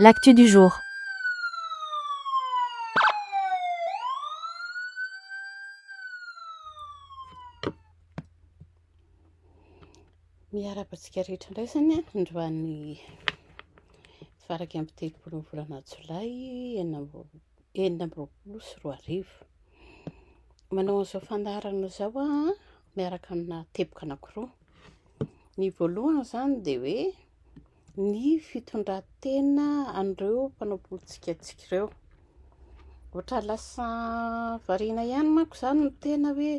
L'actu du jour. Miarahaba antsika rehetra indray izany androany faraika amby telopolo ny volana jolay enina amby roapolo sy roa arivo. Manao an'izao fandaharana izao aho miaraka amina teboka anankiroa. Ny voalohany izany dia hoe ny fitondran-tena an'ireo mpanao politika antsika ireo. Ohatra lasa variana ihany manko izany ny tena hoe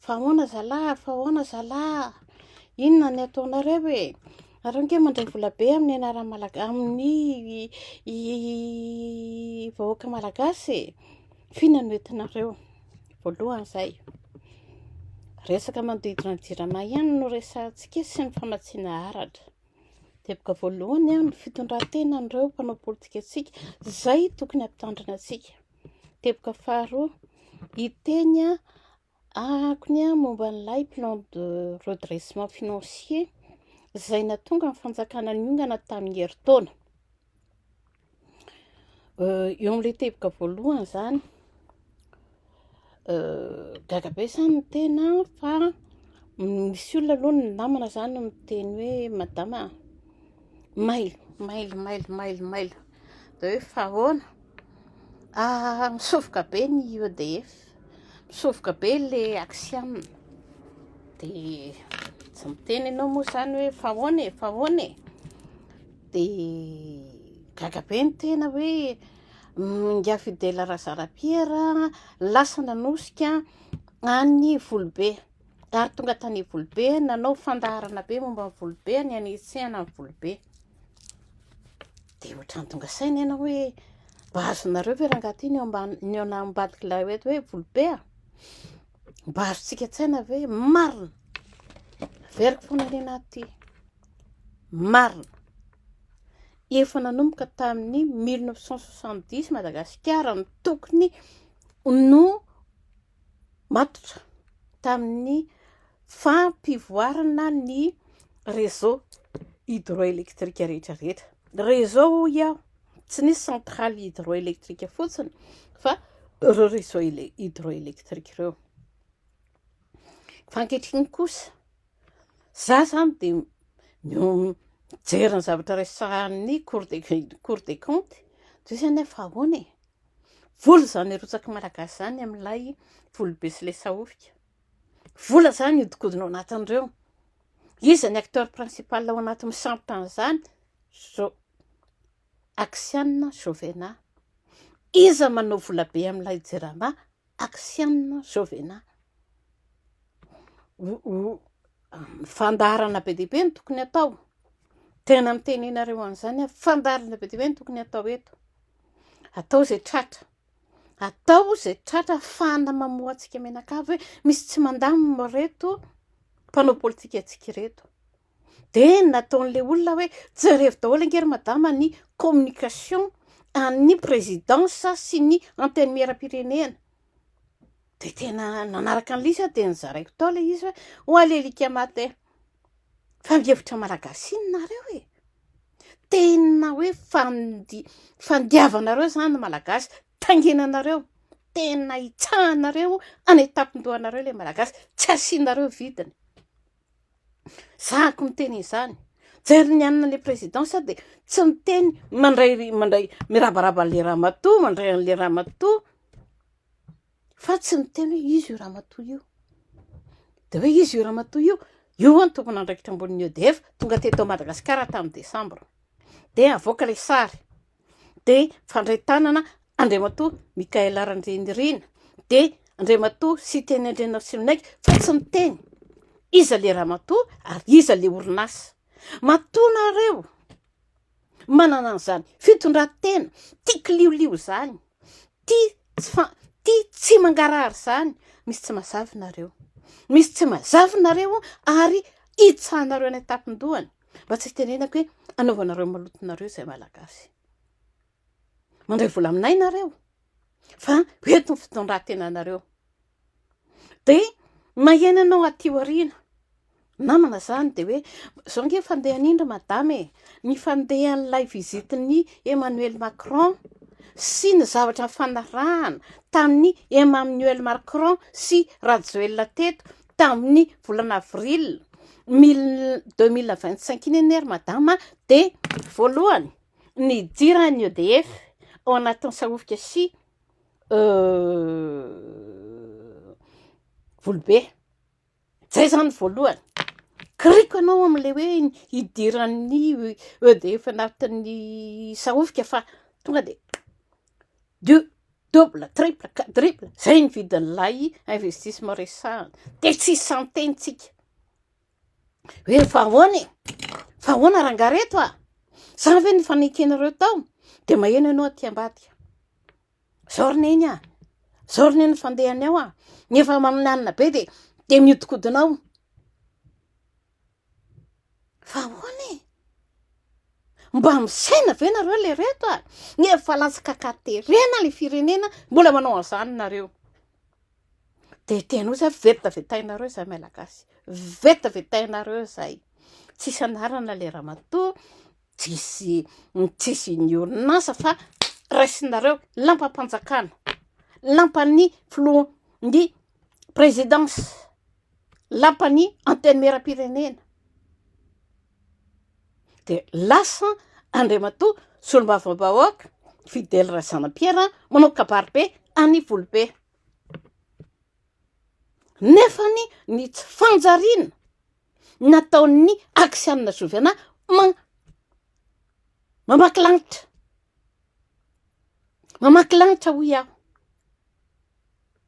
fa ahoana zalahy a, fa ahoana zalahy a, inona no ataonareo e, nareo ange mandray vola be amin'ny anaran'ny Malagasy, amin'ny vahoaka malagasy e. F'inona no entinareo? Voalohany izay, resaka manodidina ny Jirama ihany no resahantsika sy ny famatsiana aratra. Teboka voalohany ny fitondran-tenan'ireo mpanao politika antsika, izay tokony hampitandrina antsika. Teboka faharoa, hiteny Arahako ny ahy momba an'ilay plan de redressement financier izay natonga ny fanjakana niongana tamin'ny herintaona. Euh, eo amin'ilay teboka voalohany izany, euh, gaga be izany ny tena fa misy olona aloha ny namana izany miteny hoe madama mailo, mailo, mailo, mailo, mailo. dia hoe fa ahoana? Ah, misovoka be ny EDF, misovoka be le axiam, dia tsy miteny ianao moa izany hoe fa ahoana e, fa ahoana e, dia gaga be ny tena hoe Ingahy Fidèle Razarapiera lasa nanosika an'ny Volobe. ary tonga tany Ivolobe, nanao fandaharana be momba ny Ivolobe, ny hanetsehana ny Ivolobe. Dia ohatran'ny tonga saina ianao hoe mba azonareo ve rangahy ity ny eo ambadik'ilay hoe hoe Ivolobe a? Mba azontsika an-tsaina ve? Marina! Averiko foana ny anaty ity. Marina! Efa nanomboka tamin'ny 1970 Madagasikara no tokony no matotra tamin'ny fampivoarana ny réseau hydroélectrique rehetra rehetra. Réseau hoy aho, tsy nisy centrale hydroélectrique fotsiny fa ireo réseau hydroélectrique ireo. Fa ankehitriny kosa, izaho izany dia mijery ny zavatra resahin'ny cour des comptes, toy izany hoe fa ahoana e? Vola izany arotsaky malagasy izany amin'ilay volobe sy ilay sahofika. Vola izany hihodikodina ao anatin'ireo. Iza ny acteur principal ao anatin'ny sampona an'izany? Zo- Axianina Jovena. Iza manao volabe amin'ilay jirama? Axianina Jovena. Fandaharana be dia be no tokony atao. Tena miteny anareo an'izany aho. Fandaharana be dia be no tokony atao eto. Atao izay tratra. Atao izay tratra hafahana mamoha antsika mianakavy hoe misy tsy mandamina ireto mpanao politikantsika ireto. Dia ny nataon'ilay olona hoe, jereo daholo ange ry madama ny communication an'ny présidence sy ny antenimieram-pirenena. Dia tena nanaraka an'i Lisy aho dia nizaraiko tao ilay izy hoe, ho ahy lelika matin. Fa mihevitra malagasy iny nareo e! Tena hoe fandi- fandiavanareo izany ny malagasy, taingenanareo, tena itsahanareo any an-tampon-dohanareo ilay malagasy, tsy asianareo vidiny. Zahako miteny izany. Jereo ny anona ilay président sao dia tsy miteny mandray mandray mirabaraba an'ilay ramatoa, mandray an'ilay ramatoa fa tsy miteny hoe iza io ramatoa io. Dia hoe iza io ramatoa io? Io hono no tompon'andraikitra ambonin'ny EDF, tonga teto Madagasikara tamin'ny desambra. Dia avoaka ilay sary. dia mifandray tanana Andriamatoa Michael Randrianirina dia Andriamatoa Siteny Andrianarsimonaiky fa tsy miteny iza ilay ramatoa ary iza ilay orinasa. Matoa nareo manana an'izany fitondran-tena tia kiliolio izany, tia tsy fa tia tsy mangarahara izany, misy tsy mazava nareo, misy tsy mazava nareo ary hitsahanareo any an-tampon-dohany. Mba tsy hitenenako hoe anaovanareo maloto nareo izay malagasy. Mandray vola aminay nareo fa ho eto ny fitondratena nareo. Dia mahena anao aty aoriana. Namana izany dia hoe izao nge fandehan'indry madame e. Ny fandehan'ilay vizitin'ny Emmanuel Macron sy ny zavatra nifanarahana tamin'ny Emmanuel Macron sy Rajoelina teto tamin'ny volana avril mille deux mille vingt cinq iny anie ry madama a, dia voalohany nidiran'ny EDF ao anatin'ny Sahofika sy Volobe, izay izany voalohany. Kiriko ianao amin'ilay hoe hidiran'ny EDF anatin'ny Sahofika fa tonga dia du- double, triple, quadruple, izay ny vidin'ilay investissement resahana, dia tsy isan-teny tsika hoe fa ahoana e? Fa ahoana rangaha reto a? Izany ve no efa nekenareo tao? Dia maheno ianao aty ambadika, izao ry neny a, izao ry neny ny fandehany ao a, ny efa maminanina be dia dia mihodinkodina ao, Fa ahoana e? Mba misaina ve nareo le reto a? Efa latsaka ka terena le firenena mbola manao an'izany nareo. Dia tena ozy ary vetavetainareo izay malagasy. Vetavetainareo izay. Tsisy anarana le ramatoa, tsisy tsisy ny orinasa fa raisinareo lampam-panjakana, lampan'ny filoha ny présidence. lapan'ny antenimieram-pirenena dia lasa Andriamatoa Solombavambahoaka Fidèle Razanapiera manao kabaribe any Ivolobe. Nefa ny tsy fanjariana nataon'ny Aksianina Zovena mamaky lanitra. Mamaky lanitra hoy aho.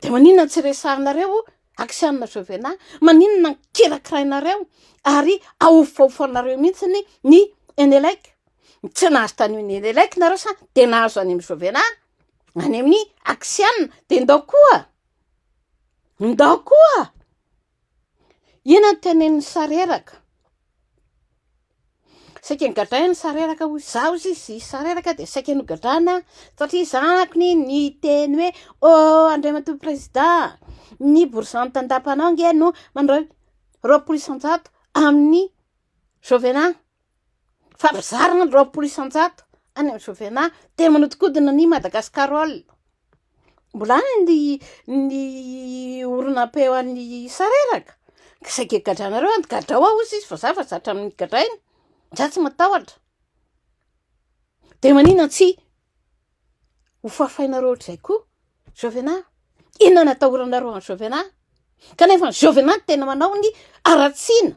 Dia maninona tsy resahinareo Axian Jovena? Maninona no kirakirainareo ary ahofahofanareo mihitsy ny Enelec? Tsy nahazo tany amin'ny Enelec nareo sa dia nahazo any amin'ny Jovena? Any amin'ny Axian? Dia ndao koa, ndao koa Inona no tenenin'i Sareraka? Saika nogadrain'i Sareraka hoy izaho hoy izy, i Sareraka dia saika nogadraina satria zanako anie niteny hoe oh Andriamatoa Prezidà, ny borizano tandapanao ange no mandray roapolo isan-jato amin'ny Jovena. fa mizara ny roapolo isan-jato any amin'ny Jovena dia manodikodina an'i Madagascarol. Mbola any ny ny oronam-peo an'ny sareraka. Izay gegadranareo any gadrao ao hozy izy fa za fa zatra amin'ny gadraina. Za tsy matahotra. Dia maninona tsy hofafainareo ohatr'izay koa Jovena? Inona no atahoranareo an'i Jovena? Kanefa ny Jovena no tena manao ny haratsiana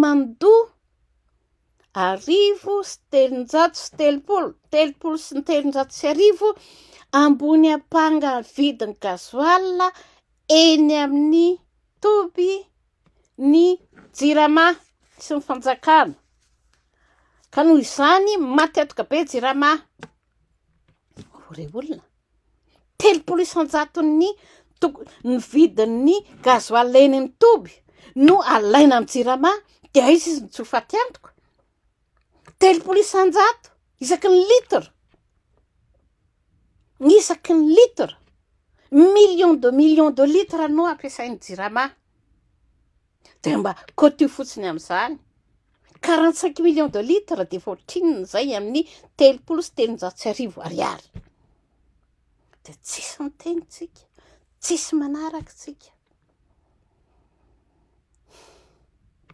mandoa arivo sy telonjato sy telopolo, telopolo sy telonjato sy arivo ambony ampanga vidin'ny gasoil eny amin'ny toby ny jirama sy ny fanjakana. Ka noho izany maty atoka be jirama. Rey olona, telopolo isan-jaton'ny ny vidin'ny gasoil eny amin'ny toby no alaina amin'ny jirama dia aiza izy no tsy ho faty antoka? Telopolo isan-jato isaky ny litre, isaky ny litre, millions de millions de litres no ampiasain'ny jirama. dia mba coty fotsiny amin'izany. Quarante cinq millions de litres dia efa ohatrinona izay amin'ny telopolo sy telonjato sy arivo ariary. Dia tsisy miteny tsika, tsisy manaraka tsika.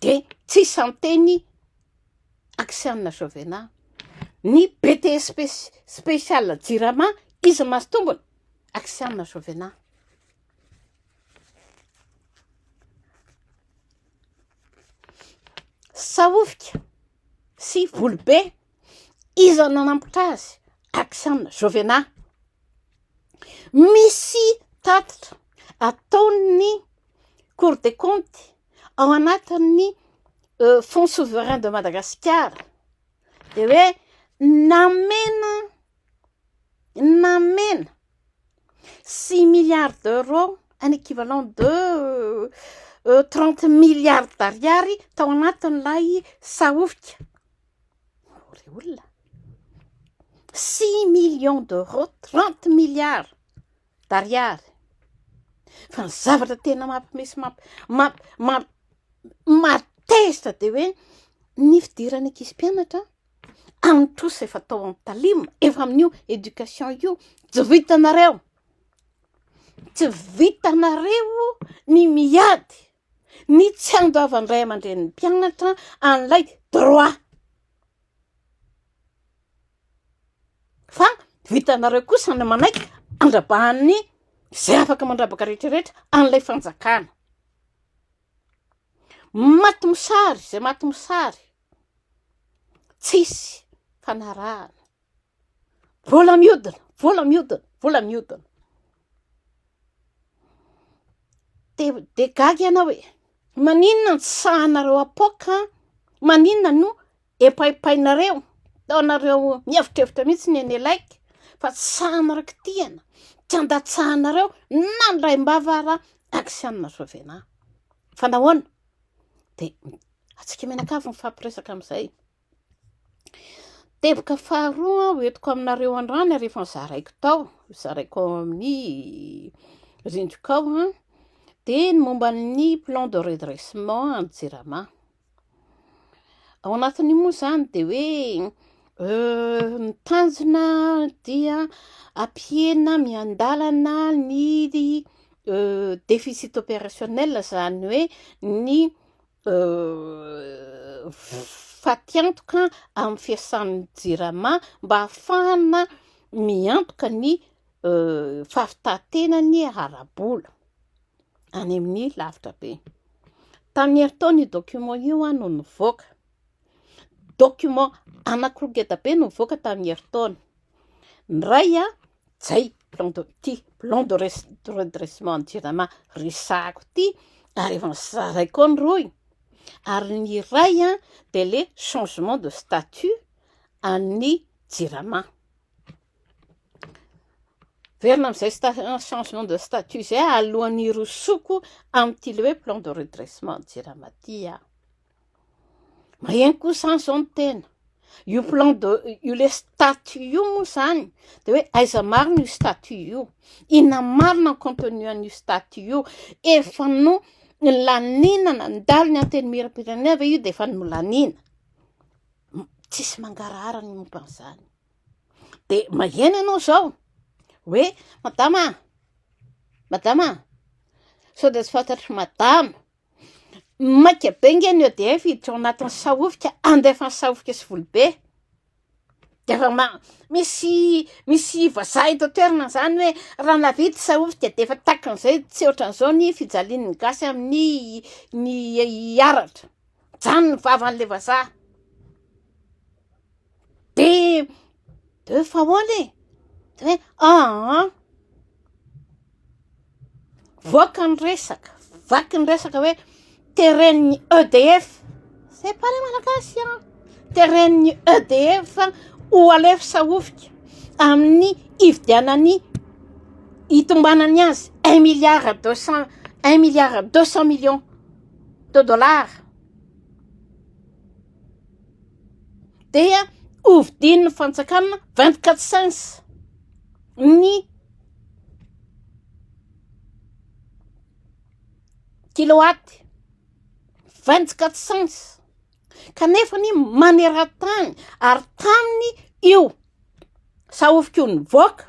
Dia tsisy miteny aksianina Jovena. Ny BTS spécial Jirama, izy masotombony, aksianina Jovena. Sahofika sy volobe, iza no nanambotra azy? Action Jovena. Misy tatitra ataon'ny Cour des comptes ao anatin'ny Fonds souverain de Madagasikara dia hoe namena namena. Six milliards d'euros, un équivalent de trente milliards d'ariary tao anatin'ilay sahofika. Hoy ilay olona, six millions d'euros, trente milliards d'ariary. Fa ny zavatra tena mampimes- mamp- mamp- mamp- mahatezitra dia hoe ny fidiran'ny ankizy mpianatra any trosa efa tao amin'ny talim efa amin'io education io tsy vitanareo tsy vitanareo ny miady ny tsy andoavan-dray aman-dren'ny mpianatra an'ilay droit fa vitanareo kosa ny manaiky andrabahan'ny zay afaka mandrabaka rehetrarehetra an'ilay fanjakana maty mosary zay maty mosary Tsisy fanarahana. Vola miodina, vola miodina, vola miodina. Dia dia gaga ianao hoe maninona no tsy sahanareo apoaka? Maninona no epaipainareo? Ataonareo mihevitrevitra mihitsy ny eny Elaiky fa tsy sahanareo kitihana, tsy andatsahanareo na ny raim-bava ara akisianina Rajoelina. Fa nahoana? Dia Antsika mianakavy mifampiresaka amin'izay. Teboka faharoa ho entiko aminareo androany ary efa zaraiko tao, zaraiko ao amin'ny rindriko ao an, dia ny momba ny plan de redressement any Jirama. Ao anatin'io moa izany dia hoe euh, ny tanjona dia ampihena miandalana ny euh, déficit opérationnel izany hoe ny fatiantoka amin'ny fiasan'ny jirama mba hahafahana miantoka ny fahafitatenany ara-bola any amin'ny lavitra be. Tamin'ny herintaona io document io no nivoaka. Document anankiroa ngeda be no nivoaka tamin'ny herintaona. Ny iray Jay, plan de ty, plan de redressement jirama resahako ty, ary efa nisazaray koa ny roy, ary ny iray an dia le changement de statut an'ny jirama. Verina amin'izay changement de statut izay alohan'ny hirosoako amin'ity le hoe plan de redressement jirama ty aho. Maheno koa zany zao ny tena. Io plan de io le statut io moa zany de hoe aiza marina io statut io. Inona marina ny contenu an'io statut io. Efa no laniana nandalo ny antenimieram-pirenena ve io de efa nolaniana. Tsisy mangarahara ny momba an'izany. De maheno ianao zao hoe madama, madama sao de tsy fantatry madama. Maika be nge ny EDF hiditra ao anatin'ny sahofika andefany sahofika sy vola be dia efa ma- misy misy vazaha eto an-toerana izany hoe raha nahavita i sahofika dia efa takan'izay tsy ohatran'izao ny fijalian'ny gasy amin'ny ny hiaratra mijanona ny vavan'ilay vazaha dia Deux fois holy e! de hoe aa! voaka ny resaka, vaky ny resaka hoe teren'ny EDF, c'est pas le malagasy an! teren'ny EDF ho alefa sahofika amin'ny hividianany hitombanany azy un milliard deux cent un milliard deux cent millions de dollars. dia hovidian'ny fanjakana vingt quatre cents ny kilowatt vingt quatre cents kanefa anie maneran-tany ary taminy io sahofiko nivoaka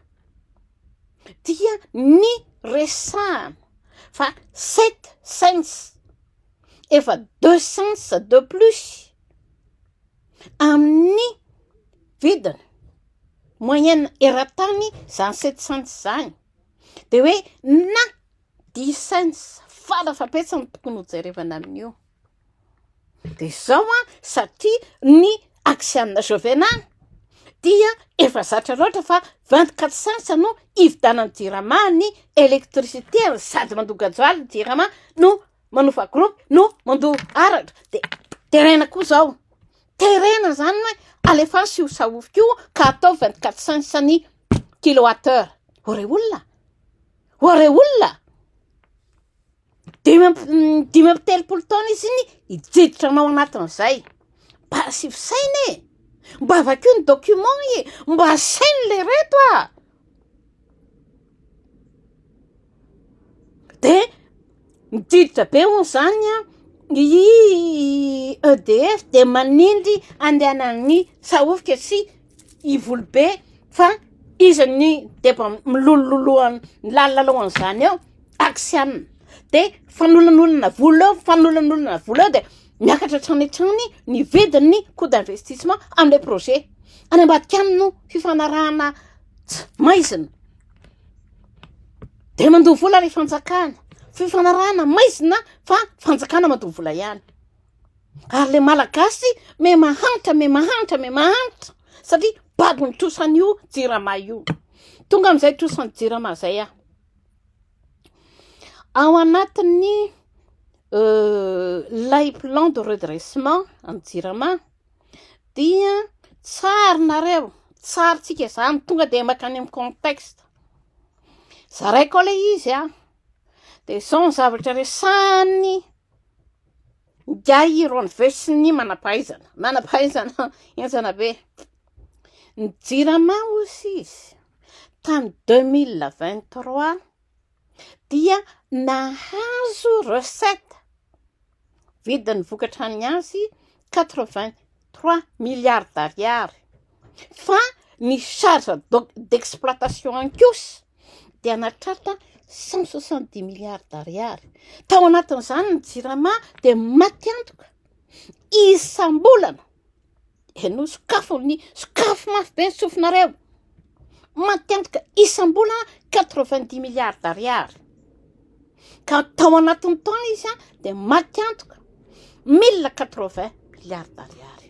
dia ny resahana fa sept cents efa deux cents de plus amin'ny vidiny moyenne eran-tany izany sept cents izany dia hoe na dix cents fara fahabetsany no tokony hojerevana amin'io dia izao an satria ny axe ana Jovena dia efa zatra loatra fa vingt quatre cents no hividianan'ny jirama ny électricité ary sady mandoa gasoil ny jirama no manova groupe no mandoa aratra de terena koa zao terena zany hoe alefany sy ho sahofy koa ka atao vingt quatre cent isany kilowatt heure ho re olona ho re olona dimy amby dimy amby telopolo taona izy iny hijiditra anao anatin'izay mba asio saina e mba vakio ny document e mba asaino le reto a dia miditra be hono izany an, i EDF dia manindry andehanan'ny sahofika sy ivolo be fa iza no deba milololoha ny lalao an'izany eo. taksiana de fanolanolana vola eo fanolanolana vola eo de miakatra hatrany hatrany ny vidin'ny coût d'investissement amle projet any ambadika any no fifanarahana tsy maizina de mandoa vola le fanjakana fifanarahana maizina fa fanjakana mandoa vola ihany ary le malagasy me mahantra me mahantra me mahantra satria babon'ny trosan'io jirama io tonga am'izay trosan'ny jirama zay aho Ao anatin'ny ilay plan de redressement an'ny jirama dia tsarinareo, tsarintsika izany, tonga dia mankany amin'ny contexte, zaraiko ao ilay izy an, dia izao ny zavatra resahiny. Ingahy Iron Voice sy ny manampahaizana. Manampahaizana henjana be. Ny jirama hozy izy tamin'ny 2023 dia nahazo recette vidin'ny vokatra ny azy 80 Trois milliards d'ariary, fa ny charge d'exploitation ihany kosa dia nahatratra cent soixante dix milliards d'ariary, tao anatin'izany ny jirama dia maty antoka isam-bolana, henoy sokafy, sokafy mafy be ny sofinareo, maty antoka isam-bolana quatre vingt dix milliards d'ariary. ka tao anatin'ny taona izy dia maty antoka mille quatre vingt milliards d'ariary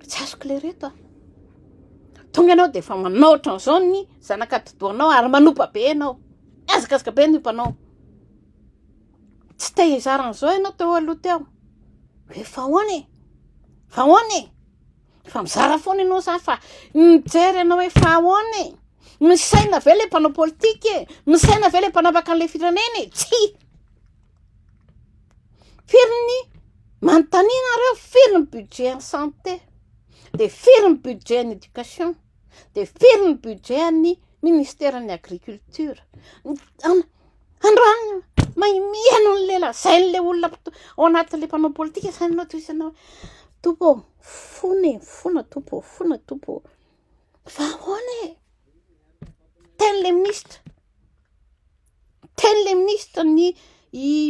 tsy azoko le reto a tonga ianao dia efa manao ohatran'izao ny zanaka atidohanao ary manopa be ianao azakazaka be ny ompanao tsy te hizara an'izao ianao teo aloha teo efa ahoana e efa ahoana e Efa mizara foana ianao zany fa mijery anao hoe fa ahoana e? Misaina ve le mpanao politika e? Misaina ve le mpanapaka an'ilay firenena e? Tsia! Firy ny manontania anareo firy ny budget an'ny santé? Dia firy ny budget an'ny éducation? Dia firy ny budget an'ny ministeran'ny agriculture? Androany mahimiha noho an'ilay lazain'ilay olona ao anatin'ilay mpanao politika izany ianao toy isanao hoe Tompo ô! Fona e, fona Tompo ô, fona Tompo ô. Fa ahoana e? Teny le minisitra, teny le minisitra ny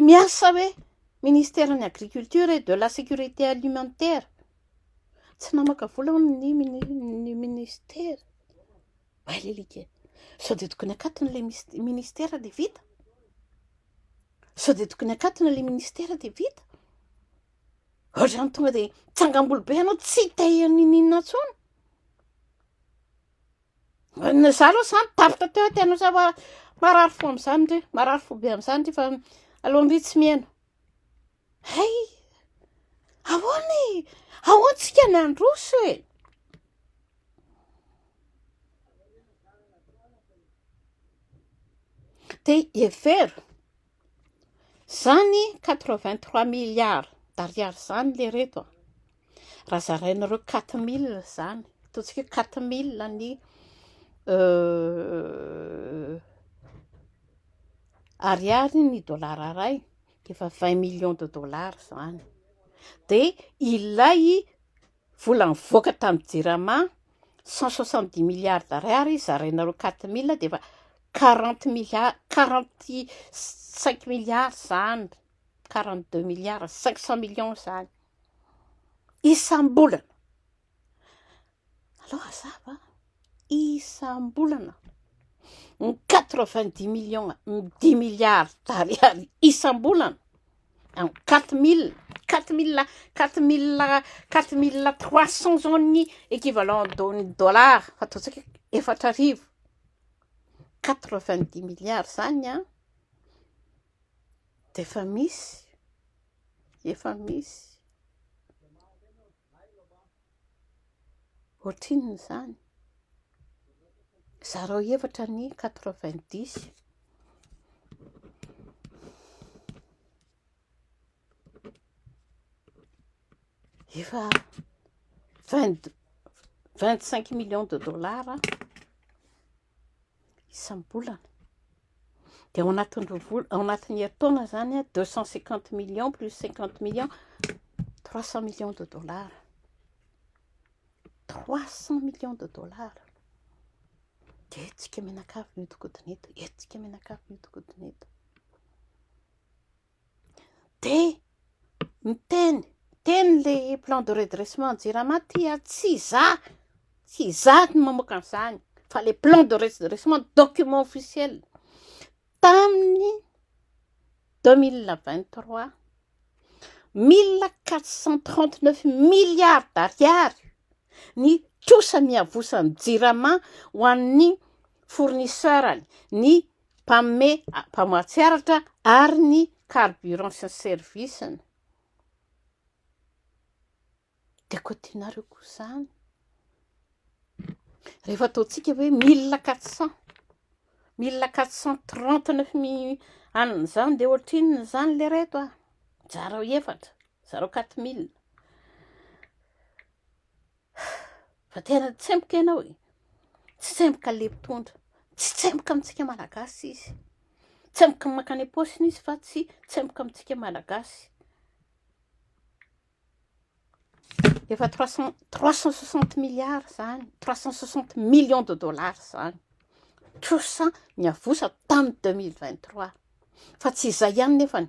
miasa hoe ministeran'ny agriculture et de la sécurité alimentaire. Tsy namaka vola hono ny ny ministera. Hay le lika e. Sao dia tokony akatona le ministera dia vita? Sao dia tokony akatona le ministera dia vita? Ohatrany tonga de tsangam-bolo be ianao tsy te-hihaino n'inon'inona intsony. Ny za aloha zany tapitra teo tena ohatry ny hoe marary fo amin'izany ndry, marary fo be amin'izany ndry fa aleo ndry tsy mihaino. Hay, ahoana e, ahoana isika no handroso e. Dia hevero Zany quatre vingt trois milliards d'ariary zany le reto a! Raha zarainareo quatre mille zany, ataontsika hoe quatre mille ny ariary ny dolara iray dia efa vingt millions de dollars zany dia ilay Vola nivoaka tamin'ny jirama, cent soixante dix milliards d'ariary zaraina roa quatre mille dia efa quarante milliards, quarante cinq milliards izany, quarante deux milliards, cinq cent millions izany isam-bolana. Aleo hazava a! isam-bolana ny quatre vingt dix millions dix milliards d'ariary isam-bolana en quatre mille quatre mille quatre mille quatre mille trois cent zao ny equivalent de dollars fa ataontsika hoe efatra arivo quatre vingt dix milliards izany an dia efa misy efa misy Ohatrinona izany? Zarao hevitra ny quatre vingt dix. Efa vingt cinq millions de dollars. isam-bolana. Dia ao anatin'ny roa vola, ao anatin'ny herintaona izany an, deux cent cinquante millions plus cinquante millions, trois cent millions de dollars. Trois cent millions de dollars. Dia eto tsika mianakavy mihodinkodina eto, eto tsika mianakavy mihodinkodina eto. Dia miteny, miteny ilay plan de redressement jirama dia tsy izaho, tsy izaho no mamoaka an'izany fa ilay plan de redressement document officiel tamin'ny deux mille vingt trois mille quatre cent trente neuf milliards d'ariary ny trosa miavosan'ny jirama ho an'ny fournisseur-ny, ny mpanome mpamatsy aratra ary ny carburant sy ny service-ny. Dia koa tianareo koa izany. Rehefa ataontsika hoe mille quatre cent, mille quatre cent trente neuf mi- anona izany dia ohatrinona izany le reto a? Zarao efatra, zarao quatre mille. Fa tena tsemboka ianao e. Tsy tsemboka le mpitondra. Tsy tsemboka amintsika malagasy izy. Tsemboka ny makany am-paosiny izy fa tsy tsemboka amintsika malagasy. Efa trois cent trois cent soixante milliards izany, trois cent soixante millions de dollars izany. Trosa niavosa tamin'ny deux mille vingt trois. Fa tsy izay ihany nefany.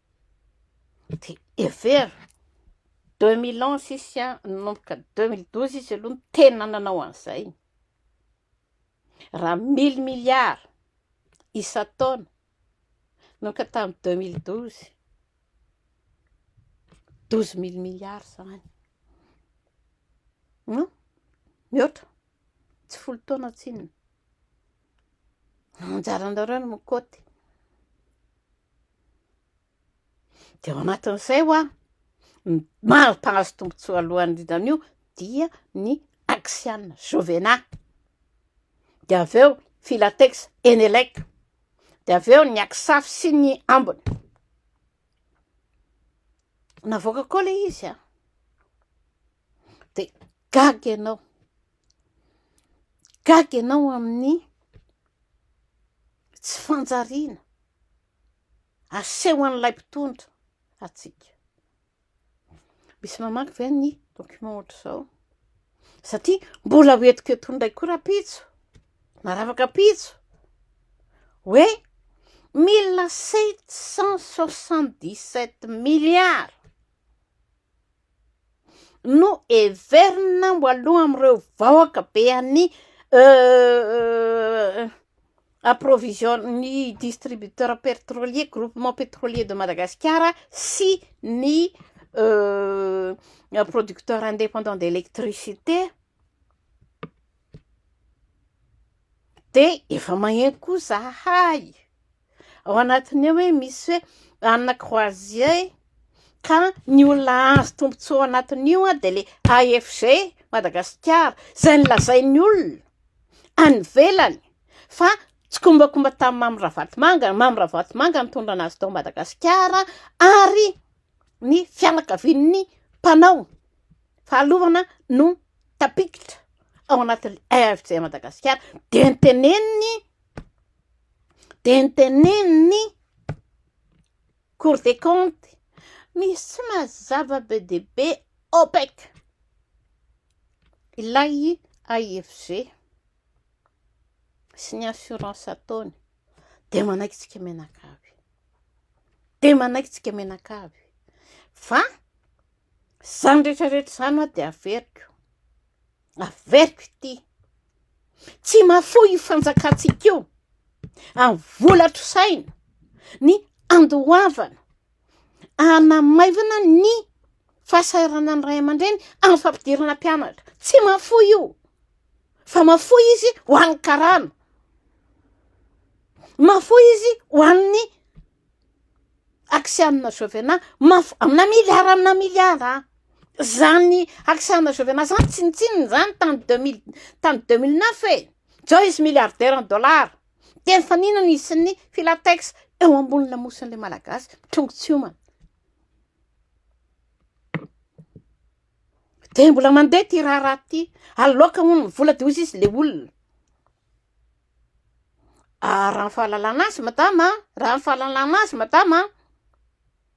Dia hevero, deux mille ans sisy an, nanomboka deux mille douze izy aloha no tena nanao an'izay. Raha mille milliards isan-taona, nanomboka tamin'ny deux mille douze, douze mille milliards izany. Hum, mihoatra, tsy folo taona tsinona. Anjaranareo no mikoty. Dia ao anatin'izay hoa, ny maro mpahazo tombontsoa alohany indrindra an'io dia ny Axiana, Jovena. Dia avy eo Filatex, Enelec. Dia avy eo ny Aksafy sy ny ambiny. Navoaka koa ilay izy an. dia gaga ianao, gaga ianao amin'ny tsy fanjariana asehon'ilay mpitondra antsika. Misy mamaky ve ny document ohatr'izao? Satria mbola ho entiko eto indray koa rahampitso, na rafakapitso, hoe mille sept cent soixante dix sept milliards no heverina ho aloha amin'ireo vahoaka be an'ny approvision- ny distributeur pertrolier, groupement petrolier de Madagasikara sy ny producteur indépendant de électricité dia efa maheno koa izahay. Ao anatin'ny eo hoe misy hoe Anna Croisier e, ka ny olona azo tombontsoa ao anatin'io dia ilay AFG Madagasikara, izay nolazain'ny olona any ivelany fa tsikombakomba tamin'i Mamy Ravatomanga, Mamy Ravatomanga no nitondra an'azy tao Madagasikara ary ny fianakavian'ny mpanao fahalovana no tafiditra ao anatin'ny AFG Madagasikara dia noteneniny dia notenenin'ny Cour des comptes misy mazava be dia be OPEC ilay AIFG sy ny assurance ataony dia manaikitsika menakavy dia manaikitsika menakavy fa izany rehetra rehetra izany ho'a dia averiko Averiko ity, tsy mahafoy io fanjakantsika io amin'ny vola trosaina ny andoavana hanamaivana ny fahasahiranan'ny ray aman-dreny amin'ny fampidirana mpianatra. Tsy mahafoy io fa mahafoy izy ho an'ny karama, mahafoy izy ho an'ny Axianina Jovena mafy amina milliard amina milliard a! Izany Axianina Jovena izany tsinontsinona izany tany deux mille tany deux mille neuf e! Izao izy milliardaire en dollars. Dia mifaninana izy sy ny Filatex eo ambony lamosin'ilay Malagasy mitrongy tsy homana. Dia mbola mandeha ity raharaha ity. Aloaka hono ny vola dia hoy izy ilay olona. Ah, raha ny fahalalana azy madama a, raha ny fahalalana azy madama a,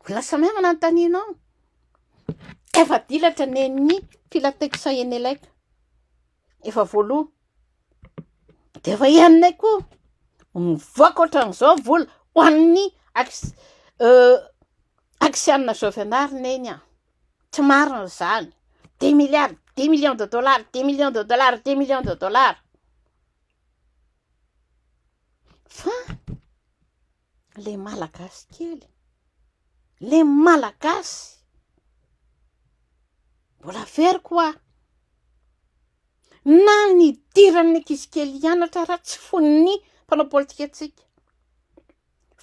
mbola samy ahy no anontanina ao, efa dilatra nen'ny filateksa eny Eleka, efa voaloa, dia efa henonay koa mivoaka ohatran'izao vola ho an'ny axe- euh, axianina zao fianarana eny an, tsy marina izany, dix milliards, dix millions de dollars, dix millions de dollars, dix millions de dollars. Fa le malagasy kely, le malagasy mbola very ko aho, na ny hidiran'ny ankizy kely hianatra ary tsy fon'ny mpanao politika antsika,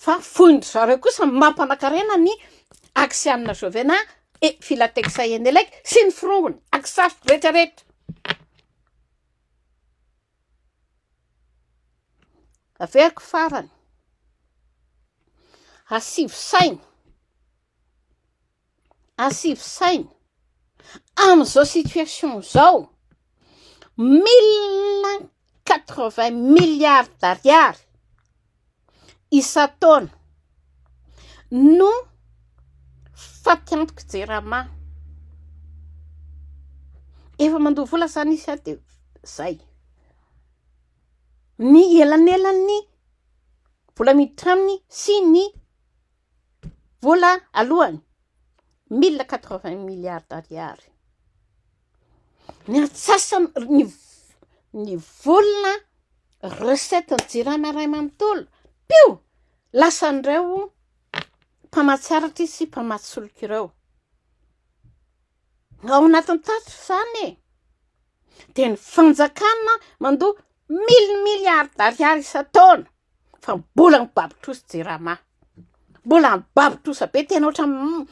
fa fon-dry zareo kosa mampanakarena ny axe an'i Nazovena et Filatex Eneleg sy ny forongony, agisariko retraretra. Averiko farany, asivo saina, asivo saina, amin'izao situation izao, mille quatre vingt milliards d'ariary isan-taona no fatiantoka Jirama. Efa mandoa vola izany isika dia izay. Ny elanelan'ny vola miditra aminy sy ny vola alohany, mille quatre-vingt milliards d'ariary. Ny antsasany ny ny vola recette ny jirama iray manontolo pio! lasan'ireo mpamatsy aratra sy mpamatsy solika ireo. Ao anatin'ny tatitra izany e! Dia ny fanjakana mandoa mille milliards d'ariary isan-taona fa mbola mibaby trosa jirama, mbola mibaby trosa be tena ohatran'ny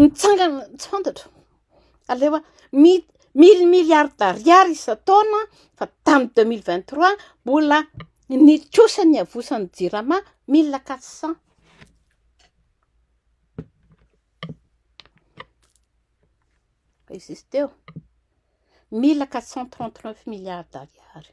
mitsangana tsy fantatro, aleo a mille milliards d'ariary isan-taona fa tamin'ny deux mille vingt trois mbola ny trosa niavosan'ny jirama mille quatre cent existé eo, mille quatre cent trente neuf milliards d'ariary.